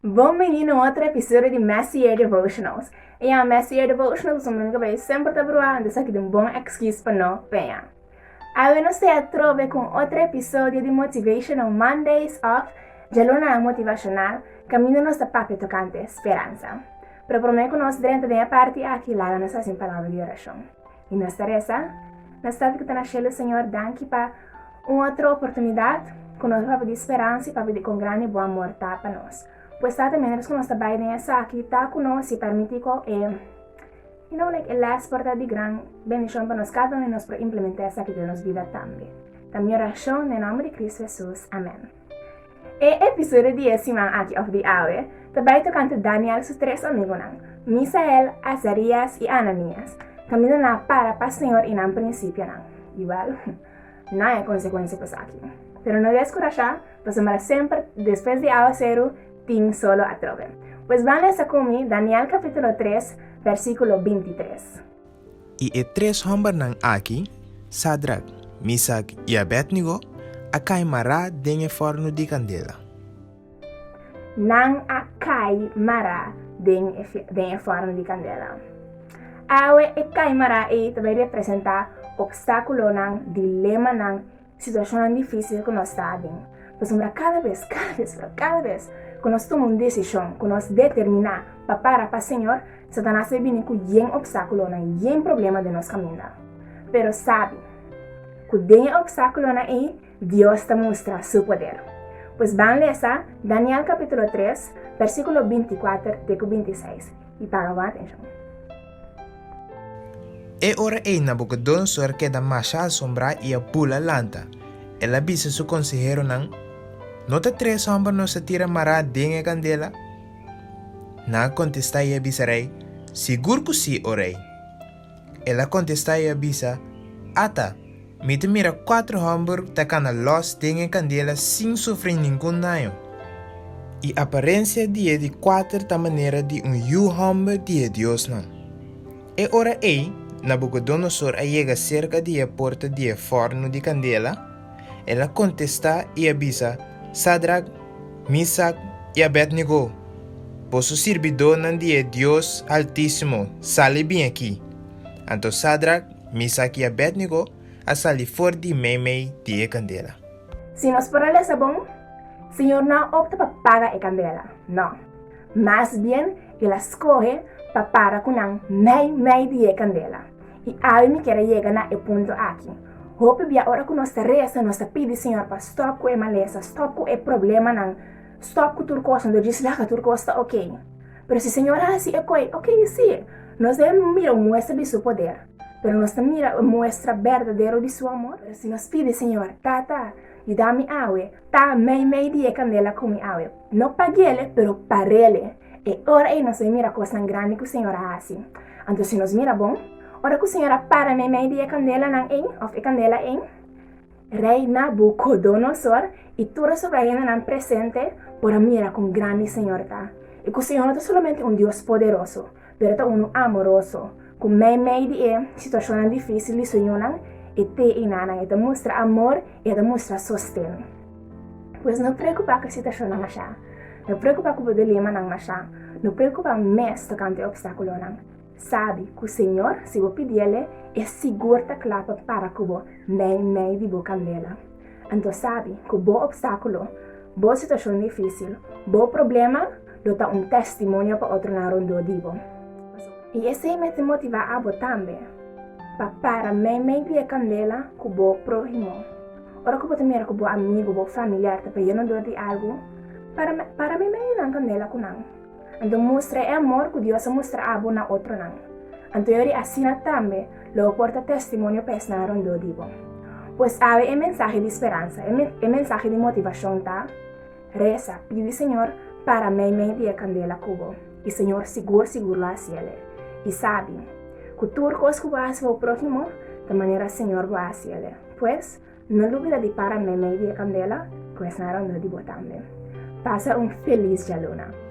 Bon bini na un otro episodio di Messy Year Devotionals. E a Messy Year Devotionals un blunga bay semper ta bruha anto esaki ta un bon excuse pa no peña. Awe nos ta atrobe cu un otro episodio di Motivational Mondays of Djalunanan Motivacional caminda nos ta papia tocante speransa. Pero prome cu nos drenta den e parti aki laga nos haci un palabra di oracion. I nos ta resa, nos Tata ku ta na shelu Señor, danki pa un otro oportunidat ku nos a papia di speransa i papia di kon grandi bo amor ta pa nos. Pues Tata, miéntras ku nos ta bai den esaki, ta ku nos i permití ku e, you know, like e lès por ta di gran bendishon pa nos kada un i nos por implementá esaki den nos bida tambe. Ta mi orashon den nòmber di Kristu Hesus. Amèn. E episodio di e siman aki òf di awe ta bai tokante Daniel su tres amigunan, Misael, Azarías i Ananias. Kaminda nan a para pa Señor i nan prinsipionan. I wèl, nan e konsekuensia pa esaki. Pero no deskurashá, pasobra semper despues di awaseru tin solo atrobe. Pues ban lesa ku mi Daniel kapítulo tres, versíkulo bintitres. I e tres hòmbernan aki, Sadrak, Misak i Abednego, a kai mará den e fòrnu di kandela. Nan a kai mará den e fòrnu di kandela. Awe e kai mará ei ta bai representá opstákulonan, dilemanan Situashonnan difísil ku nos ta aden. Pasobra kada bes, kada bes, pero kada bes ku nos tuma un desishon, ku nos determiná pa para pa Señor, Satanas ta bini ku yen opstákulonan, yen problema den nos kaminda. Pero sabi ku den e opstákulonan ei Dios ta mustra Su poder. Pues ban lesa Daniel kapítulo tres, bèrsikulo binti kuater te ku binti seis, i paga bon atenshon. E ora eina Bucodonosor keda masha asombrá i a bula lanta. El a bisa su konseheronan, No ta tres hòmber nos a tira mará den e kandela? Nan a kontestá i a bisa rei, Sigur ku sí, o rei! El a kontestá i a bisa, Ata! Mi ta mira kuater hòmber ta kana lòs den e kandela sin sufri ningun daño. E aparensia di e di kuater ta manera di un yu hòmber di e diosnan. E ora ei, Nabukodonosor a yega serka di e porta di e fòrnu di kandela, el a kontestá i a bisa, Sadrak, Misak i Abednego, boso sirbidónan di e Dios Altísimo, sali bin aki! Anto Sadrak, Misak i Abednego a sali for di meimei di e kandela. Si nos por a lesa bon, Señor no a opta pa paga e kandela. No. Mas bien el a skohe pa para ku nan meimei di e kandela. I awe mi kier a yega na e punto aki. Hopi bia ora ku nos ta resa, nos ta pidi Señor pa stòp ku e malesa, stòp ku e problemanan, stòp ku tur kos, anto djis laga tur kos ta oke. Pero si Señor a hasi e koe, ok, sí, nos a mira un muestra di Su poder, pero nos ta mira un muestra berdadero di Su amor. Pero si nos pidi Señor, Tata, yuda mi awe, ta mei mei di e candela cu mi awe, no paguele, pero parele, e ora ei nos a mira cosnan grandi cu Señor a hasi. Anto si nos mira bon, ora cu Señor a para mei mei di e candelanan ei, of e candela ei, Rei Nabukodonosor i tur e sobrahendenan presente por a mira kon grandi señor ta, i ku señor no ta solamente un Dios poderoso, pero ta unu amoroso, ku meimei di e situashonnan difísil di su yunan, e te i nanan, e ta mustra amor i e ta mustra sosten. Pues no preokupá ku e situashonnan mashá, no preokupá ku bo dilemanan mashá, no preokupá mes tokante e opstákulonan, Sabi ku Señor si bo pidi Ele, E sigur ta kla pa para ku bo mei mei di bo kandela. Anto sabi ku bo opstákulo, bo situashon difísil, bo problema lo ta un testimonio pa otronan rondó di bo. I esei mei ta motivá abo tambe pa para mei mei di e kandela ku bo próhimo. Ora ku bo ta mira ku bo amigu, bo familiar ta payá rondó di algu, para mei mei di nan kandela ku nan. Anto mustra e amor ku Dios a mustra abo na otronan. Anto yori asina tambe lo bo por ta testimonio pa esnan rondó di bo. Pues awe e mensahe di speransa. E mensahe di motivashon ta, Resa, pidi Señor para meimei di e kandela ku bo. I Señor sigur sigur lo hasi el e. I sabi, ku tur kos ku bo hasi pa bo próhimo, ta manera Señor bo hasi el e. Pues, No lubida di para meimei di e kandela, ku esnan rondó di bo tambe. Pasa un felis djaluna!